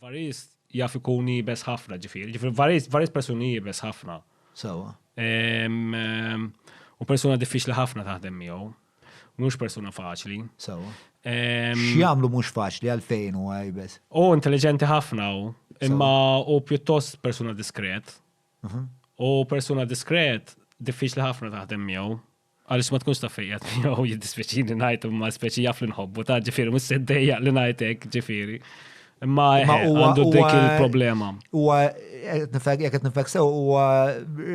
Varist jaf ikun jibes ħafna ġifiri, ġifiri varist, varist persuni jibes ħafna. Sawa. U persuna diffiċli ħafna taħdem miegħu. Mhux persuna faċli. Sawa. X'jagħmlu mhux faċli għalfejn u għajbes? U intelligenti ħafna u imma u pjuttost persuna diskret. Mhm. U persuna diskret diffiċli ħafna taħdem miegħu. Għaliex ma tkunx taf fejn qiegħed miegħu jiddispjaċini ngħid imma speċi jaf li nħobbu ta' ġifieri mhux se ddejjaq li ngħid hekk ġifieri. Imma għandu dik il-problema. Huwa jekk qed nifek sew huwa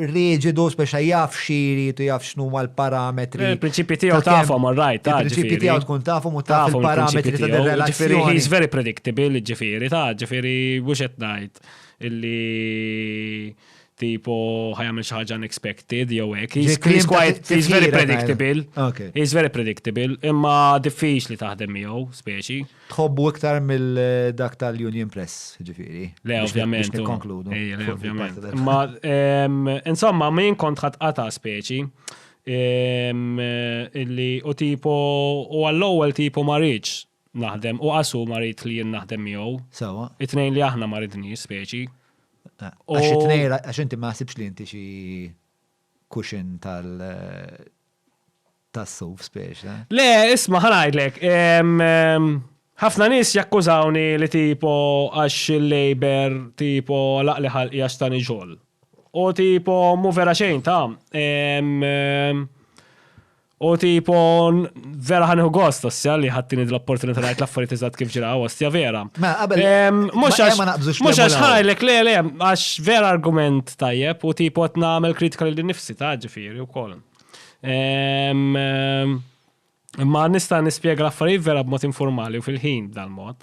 riġidu speċa jaf xiri tu jaf x'nu mal parametri Il-prinċipji tiegħu tafhom rajt ta' Il-prinċipji tiegħu tkun tafhom u taf il-parametri ta' relazzjoni. He's very predictable, ġifieri ta' ġifieri mhux qed ngħid illi tipo ħajamil xi ħaġa unexpected jew hekk. He's, Ġi klim he's ta' quite he's very tifkira, predictable. Ok. He's very predictable, imma diffiċli taħdem miegħu speċi. Tħobbu iktar mill-dak tal-Union Press, ġifiri. Le, Biex- ovvjament. Biex u- nikkonkludu. Ej, le, fuq ovvjament. il-parti tal- Ma, em, insomma, min kont ħatqata speċi. em, eh, illi u tipo u għall-ewwel tipo ma rridx naħdem u qas hu ma rid li jien naħdem miegħu. Sewwa. It-tnejn li aħna ma ridniex speċi. Għax it-tnejn għax inti ma ħsibx li inti xi kuxin tal tas-suf spiex, eh? Le, isma' ħanajdlek, ħafna nies jakkużawni li tipo għax il-labor tipo laqli ħalqi għax tani xogħol. U tipo mu vera xejn ta' U tipo, vera ħanħu gost, ossja, li ħattini dl-opportunità najt l-affarijiet iżad kif ġira, ossja, vera. Ma, qabel. Mux għax, mux għax ħajlek, le, le, għax vera argument tajjeb, u tipo t-namel kritika li nifsi ta' ġifiri u kol. Ma nista nispiega l-affarijiet vera b'mod informali u fil-ħin dal-mod.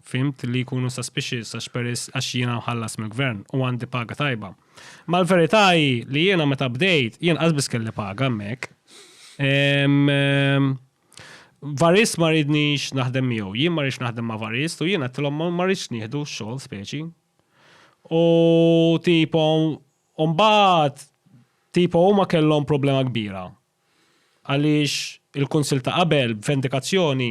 fhimt li jkunu suspicious għax peris għax jiena mħallas mill-gvern u għandi paga tajba. Ma l-verità hi li jiena meta bdejt jien qasbis kelli paga hemmhekk. Varis ma ridnix naħdem miegħu, jien ma rridx naħdem ma' Varis u jien għattilhom ma rridx nieħdu xogħol speċi. U tipo mbagħad tipo huma kellhom problema kbira għaliex il-Kunsill ta' qabel, b'vendikazzjoni,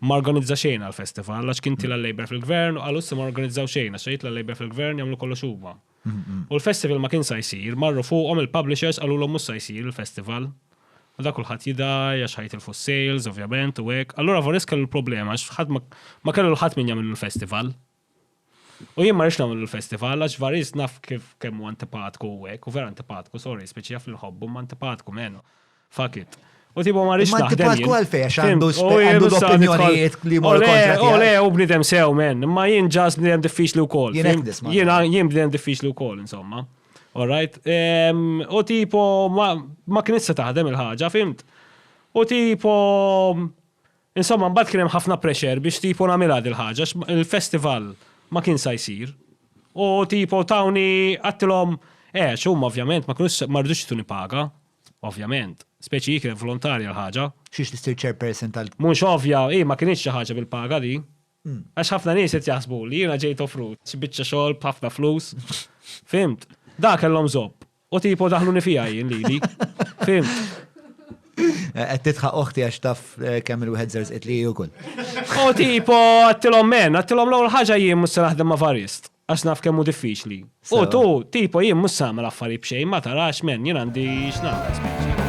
ma organizza xejn għall-festival, għax kien tila l-Labour fil-gvern u qalu issa ma organizzaw xejn, għax jitla l-Labour fil-gvern jagħmlu kollox huma. U l-festival ma kien sa jsir, marru fuqhom il-publishers qalulhom mhux sa jsir il-festival. U dak kulħadd jidgħi għax ħa jitilfu s-sales, ovvjament, u hekk. Allura Voris kellu l-problema għax ħadd ma kellu l-ħadd min jagħmillu l-festival. U jien ma rridx nagħmlu l-festival għax Varis naf kif kemm hu antipatku u hekk, u vera antipatku, sorry, speċi jaf li nħobbu ma antipatku menu. Fuck it. U tipo ma rridx naħdem. Antipatku għalfej għax għandu għandu opinjonijiet li mor kontra. U le, u bnidem sew men, ma jien ġas bnidem diffiċli wkoll. Jien jien bnidem diffiċli wkoll insomma. Alright? U tipo ma kien issa taħdem il-ħaġa, fimt? U tipo Insomma mbagħad kien hemm ħafna pressure biex tipo nagħmilha dil-ħaġa għax il-festival ma kien sa jsir u tipo tawni għadtilhom għax huma ovvjament ma kinux ma ridux jtuni paga ovvjament, speċi hi kienet volontarja l-ħaġa. Xiex tissir chairperson tal. Mhux ovvja, hi ma kinitx xi ħaġa bil-paga di. Għax ħafna nies qed jaħsbu li jiena ġejt offrut xi biċċa xogħol b'ħafna flus. Fhimt? Dak kellhom żopp. U tipo daħluni fija jien lili. Fim. Qed titħa oħti għax taf eh, kemm il-wieħed żerż li wkoll. U tipo għattilhom men, għattilhom l-ewwel ħaġa jien mhux se naħdem ma' varist għax naf kemm hu diffiċli. U tu tipo jien mhux samel affarijiet b'xejn ma tarax men jien għandi x'nagħmel.